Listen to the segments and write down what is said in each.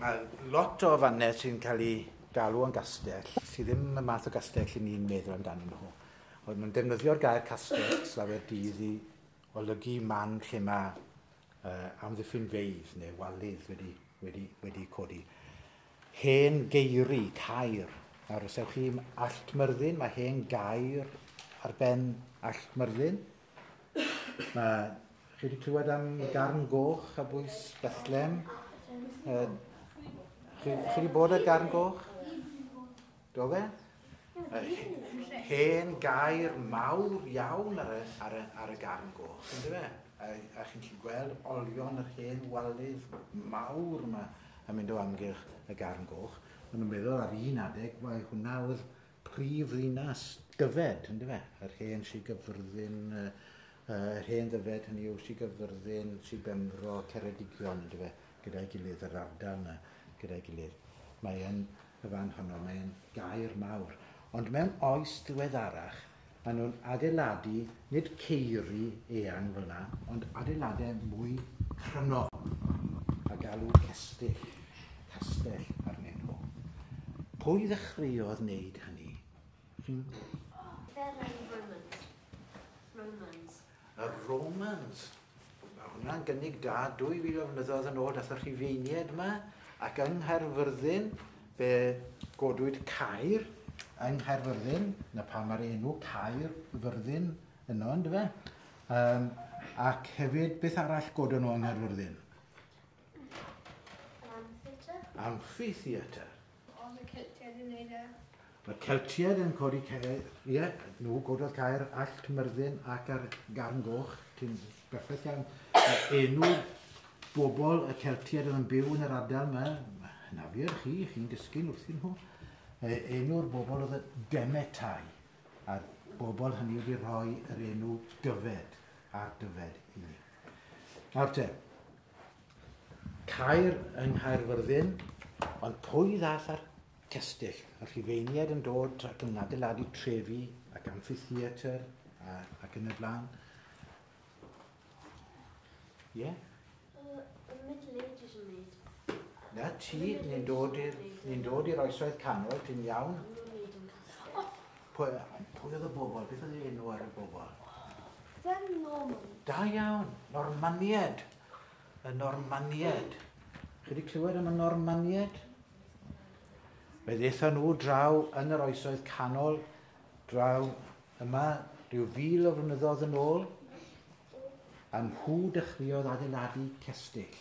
Mae lot o fannau sy'n cael eu galw yn gastell, sydd ddim y math o gastell i ni'n meddwl amdano nhw. Ond mae'n defnyddio'r gair castell slawer dydd i olygu man lle mae uh, amddiffynfeydd neu walydd wedi, wedi, wedi codi. Hen geiri, cair, nawr os ewch chi Allt Myrddin, mae hen gair ar ben Allt Myrddin, Mae, chi wedi clywed am Garn Goch a bwys Bethlem? Uh, chi, chi wedi bod ar Garn Goch? Do fe? hen gair mawr iawn ar y, ar y, ar y garn goch, yn dweud e? A, a chi'n gallu gweld olion yr hen walydd mawr yma yn mynd o amgylch y garn goch. Ond yn meddwl ar un adeg, mae hwnna oedd prif ddinas Dyfed, yn dyfe? Yr hen Sir Gyfyrddin, yy yy yr hen Ddyfed, hynny yw Sir Gyfyrddin, Sir Benfro, Ceredigion, yn dyfe? Gyda'i gilydd, yr ardal yna, gyda'i gilydd. Mae yn y fan honno, mae yn gaer mawr. Ond mewn oes ddiweddarach, Mae nhw'n adeiladu, nid ceiri eang fel yna, ond adeiladau mwy cryno, a galw cestyll, castell arnyn nhw. Pwy ddechreuodd wneud hynny? Chi'n... Fel yn Romans. Romans. Y Romans! Mae hwnna'n gynnig da 2000 o flynyddoedd yn ôl, dath y Rhufeiniaid yma, ac yng Nghaerfyrddin, fe godwyd Caer yng Nghaerfyrddin, na pam mae'r enw Caer Fyrddin yno, ynddo fe? Um, ac hefyd, beth arall godon nhw yng Nghaerfyrddin? Amphitheatre. Oedd y Celtiaid yn neud e? Mae'r Celtiaid yn codi Caer, ie, yeah, nhw gododd Caer, Allt, Myrddin ac ar Garn Goch, ti'n berffaith iawn. Enw bobl y Celtiaid oedd yn byw yn yr ardal yma, na fi ar chi, chi'n dysgu'n wrthyn nhw. Enw'r bobl oedd y Demetai, a'r bobl hynny wedi rhoi yr enw Dyfed ar Dyfed i ni. Nawr te, Caer yng Nghaerfyrddin, ond pwy ddaeth â'r cestyll? Y Rhufeiniaid yn dod ac yn adeiladu trefi ac amffitheatr a, ac yn y blaen. Ie? Yeah? The Middle Ages yn neud. Na ti, ni'n dod i'r ni'n dod i'r oesoedd canol, ti'n iawn? Nhw'n neud yn canol. Pwy oedd y bobl? Beth oedd ei enw ar y bobl? Fem Norman. Da iawn. Normanied. Y Normanied. Chi wedi clywed am y Normanied? Fe ddeitha nhw draw yn yr oesoedd canol, draw yma, rhyw fil o flynyddoedd yn ôl, a nhw dechreuodd adeiladu cestyll.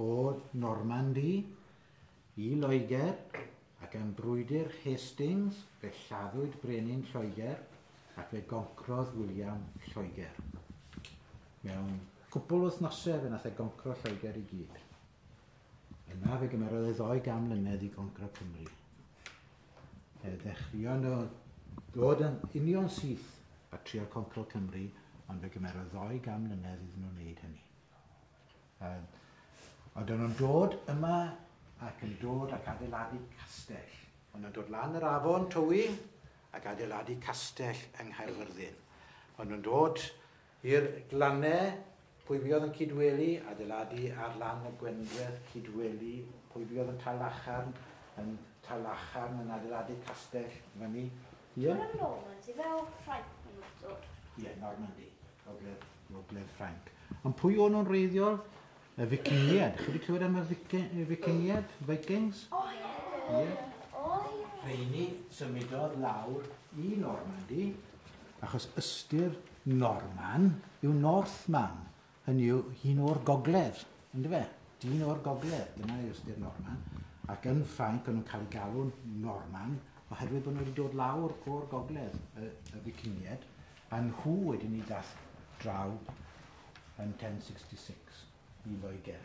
o Normandi i Loegr ac am brwydr Hastings fe lladdwyd brenin Lloegr ac fe goncrodd William Lloegr. Mewn cwpl wythnosau fe nath e goncro Lloegr i gyd. Yna fe gymerodd e ddoi gan mlynedd i goncro Cymru. Fe ddechreuon nhw ddod yn union syth a trio concro Cymru, ond fe gymerodd ddoi gan mlynedd iddyn nhw wneud hynny. Ond oedden nhw'n dod yma ac yn dod ac adeiladu castell. Oedden nhw'n dod lan yr afon Towyn ac adeiladu castell yng Nghaerfyrddin. Oedden nhw'n dod i'r glannau, pwy fuodd yn cydweli, adeiladu ar lan y Gwendreth, cydweli, pwy fuodd yn Talacharn, yn Talacharn yn adeiladu castell fyny. Ie? Dyna'r Normans, ife, o Ffrainc maen nhw wedi dod? Ie, Normandy, gogledd. Gogledd Ffrainc. Ond pwy o'n nhw'n wreiddiol? Y Ficingiad. Chi wedi clywed am y Ficingiad? Vikings? O, ie. Ie. Rheini symudodd lawr i Normandy, achos ystyr Norman yw Northman, hynny yw hun o'r gogledd, ynddo fe? Dyn o'r gogledd, dyna yw ystyr Norman. Ac yn Ffrainc o'n nhw'n cael eu galw'n Norman, oherwydd bod nhw wedi dod lawr o'r gogledd, y, y Ficingiad, A nhw wedyn i dasg draw yn 1066 i Loegr.